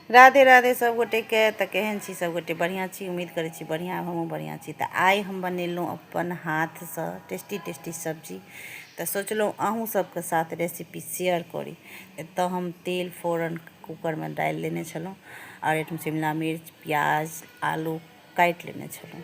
राधे राधे सब गोटे के त केहन छी सब गोटे बढ़िया छी उम्मीद करे छी बढ़िया हम बढ़िया छी त आइ हम बनेलहुँ अपन हाथ से टेस्टी टेस्टी सब्जी त सोचलहुँ अहूँ सबके साथ रेसिपी शेयर करी एत हम तेल फोरन कुकर में डाल लेने छलहुँ और एक शिमला मिर्च प्याज आलू काट लेने छलहुँ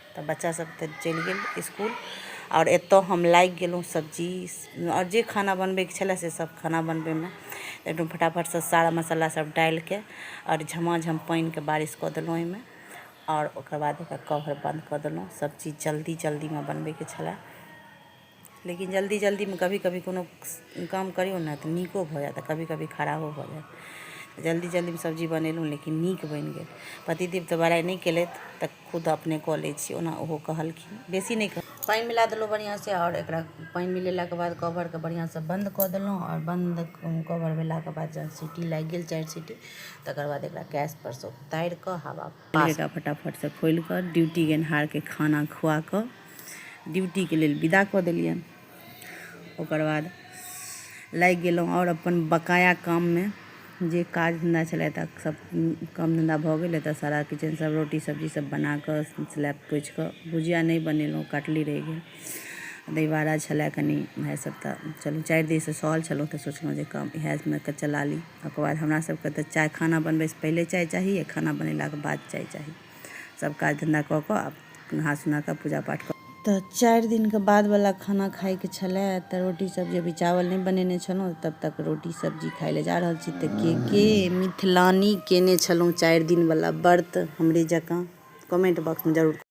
तऽ बच्चा सब तऽ चलि गेल इसकुल आओर एतऽ हम लागि गेलहुँ सब्जी आओर जे खाना बनबैके छलै से सब खाना बनबैमे एकदम फटाफटसँ सारा मसाला सब डालिके आओर झमाझम पानिके बारिश कऽ देलहुँ ओइमे आओर ओकर बाद ओकर कवर बन्द कऽ देलहुँ सब चीज जल्दी जल्दीमे बनबैके छलै लेकिन जल्दी जल्दीमे कभी कभी कोनो काम करियौ ने तऽ नीको भऽ जायत आ कभी कभी खराबो भऽ जायत जल्दी जल्दीमे सब्जी बनेलहुँ लेकिन नीक बनि गेल पतिदेव तऽ बड़ाइ नहि केलथि तऽ खुद अपने कऽ लै छी ओना ओहो कहलखिन बेसी नहि कह पानि मिला देलहुँ बढ़िआँसँ आओर एकरा पानि मिलेलाके बाद कवरके बढ़िआँसँ बन्द कऽ देलहुँ आओर बन्द कवर भेलाके बाद जहन सीटी लागि गेल चारि सीटी तकर बाद एकरा गैसपर सँ उतारि कऽ हवा पास। एकरा फटाफट सँ खोलि कऽ ड्यूटी गेनहार केँ खाना खुआ कऽ ड्यूटी केँ लेल विदा कऽ देलियनि। ओकर बाद लागि गेलहुँ आओर अपन बकाया काम मे। जे काज धंधा छलए तऽ सब काम धंधा भऽ गेल। एतय सारा किचन सब रोटी सब्जी सब बना कऽ स्लैब पोछि कऽ भुजिया नहि बनेलहुँ काटली रहि गेल। दहीबाड़ा छलए कनी भाय सब तऽ चलू चारि दिन सँ सहल छलहुँ तऽ सोचलहुँ जे काम इएह मे कऽ चला ली। ओकर बाद हमरा सबके तऽ चाय खाना बनबयसँ पहिले चाय चाही आओर खाना बनेलाके बाद चाय चाही सब काज धन्धा कऽ कऽ आब नहा सुनाकऽ पूजा पाठ कऽ तऽ चारि दिनके बादवला खाना खाइके छलै तऽ रोटी सब्जी अभी चावल नहि बनेने छलहुँ तब तक रोटी सब्जी खाइ लए जा रहल छी तऽ के के मिथिलानी केने छलहुँ चारि दिनवला व्रत हमरे जकाँ कमेंट बॉक्समे जरूर